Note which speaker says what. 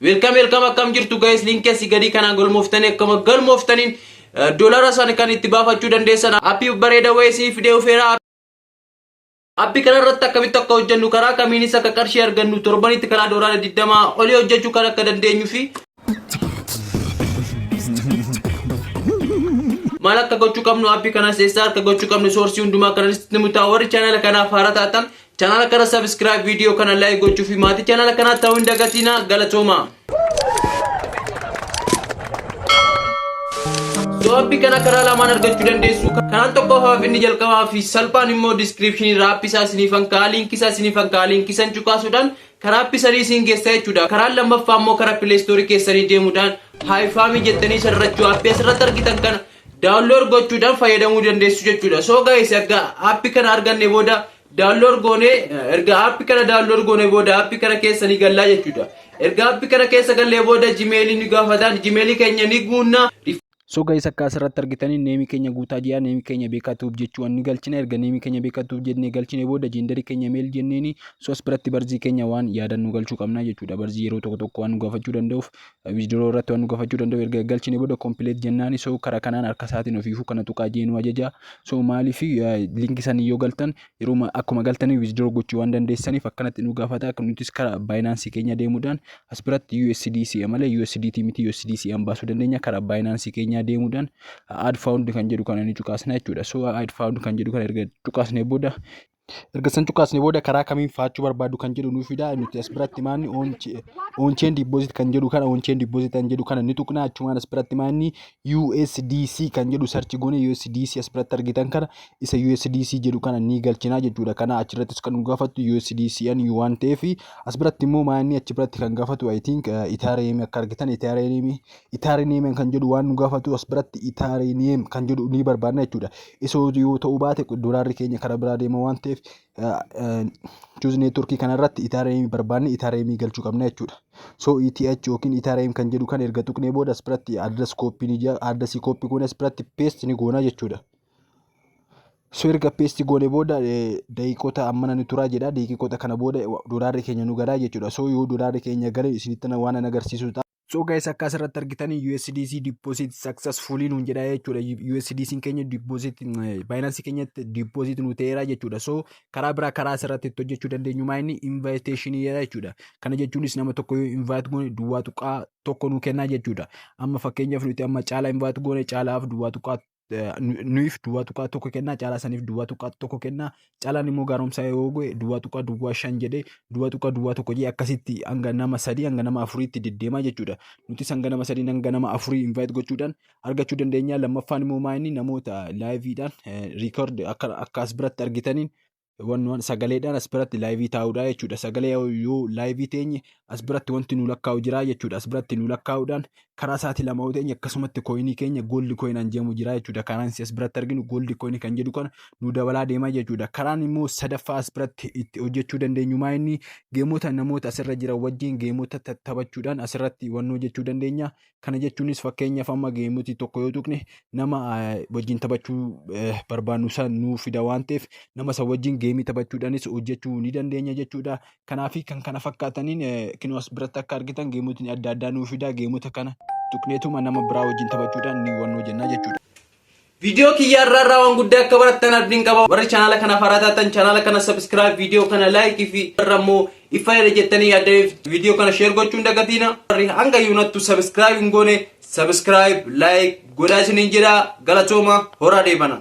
Speaker 1: Welcome welcome akkam jirtu guys linkii asii gadii kanaan galmooftanii akkama galmooftaniin eh, dolara san kan itti baafachuu dandeessan appii bareeda wayii isiniif fidee dhufeera Appi kana irratti akkamitti akka hojjennu karaa kamiinis akka qarshii argannu torbanitti karaa doolaara 20 olii hojjechuu kan akka dandeenyu fi maal akka gochuu qabnu appi kanas eessaa akka gochuu qabnu soorsii hundumaa kanas nuti mutaa warri chaanala kanaaf haaraa taatan Channel kana subscribe video kana like gochuu fi maatii channel kanaa ta'uu hin dagatiina galatoomaa. So'aappi kana karaa lamaan argachuu dandeessu. Karaan tokko hafaaf inni jalqabaa fi salphaan immoo description irraa app isaa isiniif hankaa linkii isaa isiniif hankaa linkii san cuqaasuudhaan karaa app sanii isin geessaa jechuudha. Karaan lammaffaa immoo karaa play store keessanii deemuudhaan haayifaamii jettanii sararrachuu app asirratti argitan kana download gochuudhaan fayyadamuu dandeessu jechuudha. So guys erga app kana arganne booda download goone erga app kana download goone booda app kana keessa ni gallaa jechuudha. Erga app kana keessa gallee booda Gmail ni gaafataan Gmail keenya ni guunna. So guys akka
Speaker 2: asirratti argitanii neemii keenya guutaa ji'a neemii keenya beekaa tuub jechuun ni galchina erga neemii keenya beekaa tuub jennee galchine booda jeendarii keenya meel jenneeni sos biratti barzii keenya waan yaadan nu galchuu qabna jechuudha barzii yeroo tokko tokko waan nu gaafachuu danda'uuf Withdraw irratti waan nu gafachuu danda'u erga galchine booda complete jennaani so kara kanaan harka isaatiin ofiifuu kana tuqaa jee nu ajaja so maaliif linki sanii yoo galtan yeruma akkuma galtanii withdraw gochuu waan dandeessaniif akkanatti nu gaafata akka nutis kara baayinaansii keenya deemuudhaan as biratti USDC malee USDT miti USDC an baasuu dandeenya kara baayinaansii keenya deemuudhaan add found kan jedhu kana ni cuqaasna jechuudha so add found kan jedhu kana erga cuqaasne booda Erga san cuqaasne booda karaa kamiin faachuu barbaadu kan jedhu nuuf fida. Nuti as biratti maanni on chain deposit kan jedhu kana on chain deposit kan jedhu kana ni tuqna. Achumaan as biratti maanni USDC kan jedhu search goone USDC as biratti argitan kana isa USDC jedhu kana ni galchina jechuudha. Kana achirrattis kan nu gaafatu USDC an waan ta'eef as biratti immoo maanni achi biratti kan gaafatu I think Ethereum akka argitan Ethereum Itaarineemiin kan jedhu waan nu gaafatu as biratti itaarineem kan jedhu ni barbaadna jechuudha. Isoo yoo ta'uu baate doolaarri keenya karaa biraa deema waan ta'eef chuuzi neetworkii kanarratti itaarineemii barbaadne itaarineemii galchuu qabna jechuudha. So ETH yookiin itaarineem kan jedhu kan erga tuqnee booda as biratti adres kooppii ni jira adresii kooppii goone as biratti peesti ni goona jechuudha. So erga peesti goone booda daqiiqota ammana ni turaa jedha daqiiqota kana booda doolaarri keenya nu galaa jechuudha. So yoo doolaarri keenya gale isinitti waan agarsiisudha. So guys akka asirratti argitan USDC deposit successfully nuun jedha jechuudha. USDC keenya deposit Binance keenyatti deposit nu ta'eera jechuudha. So karaa biraa karaa asirratti itti hojjechuu dandeenyu maa inni invitation jedha jechuudha. Kana jechuunis nama tokko yoo invite goone duwwaa tuqaa tokko nu kennaa jechuudha. Amma fakkeenyaaf nuti amma caalaa invite goone caalaaf duwwaa tuqaa eh, nu- nuyiif duwwaa tuqaa tokko kennaa caalaa saniif duwwaa tuqaa tokko kennaa caalaan immoo gaaromsaa yoo goe duwwaa tuqaa duwwaa shan jedhee duwwaa tuqaa duwwaa tokko jee akkasitti hanga nama sadii hanga nama afuriitti deddeemaa jechuudha nutis hanga nama sadii hanga nama afurii invite gochuudhaan argachuu dandeenya lammaffaan immoo maayinni namoota laayiviidhaan riikoordi akka akka as biratti argitaniin wannuwan sagaleedhaan as biratti laayivii taa'uudha jechuudha. Sagalee yoo laayivii teenye as biratti wanti nu lakkaa'u jira jechuudha. As biratti nu lakkaa'uudhaan karaa isaati lama yoo teenye akkasumatti kooyinii keenya gooldi kooyinaan jedhamu jira jechuudha. Karaan as biratti arginu gooldi kooyinii kan jedhu kana nu dabalaa deema jechuudha. Karaan immoo sadaffaa as biratti itti hojjechuu dandeenyu maa inni geemota namoota asirra jiran wajjin geemota taphachuudhaan asirratti wannoo jechuu dandeenya. Kana jechuunis fakkeenyaaf amma geemotii tokko yoo tuqne nama wajjin taphachuu barbaannu san nuu fida waan ta'eef nama san wajjin geemii taphachuudhaanis hojjechuu ni dandeenya jechuudha. Kanaafi kan kana fakkaataniin kinoo as biratti akka argitan geemotni adda addaa nuu fida geemota kana tuqneetuma nama biraa wajjin taphachuudhaan ni hubannoo jenna jechuudha. Viidiyoo
Speaker 1: kiyya irraa irraa waan guddaa akka barattan abdiin qaba. Warri chaanaala kanaaf haaraa taatan chaanaala kana subscribe, viidiyoo kana like fi irra immoo iffaadha jettanii yaaddameef viidiyoo kana share gochuu hin dagatiina. Warri hanga yuunattu subscribe hin goone subscribe, like godhaa isiniin jedha. Galatooma horaa deebana.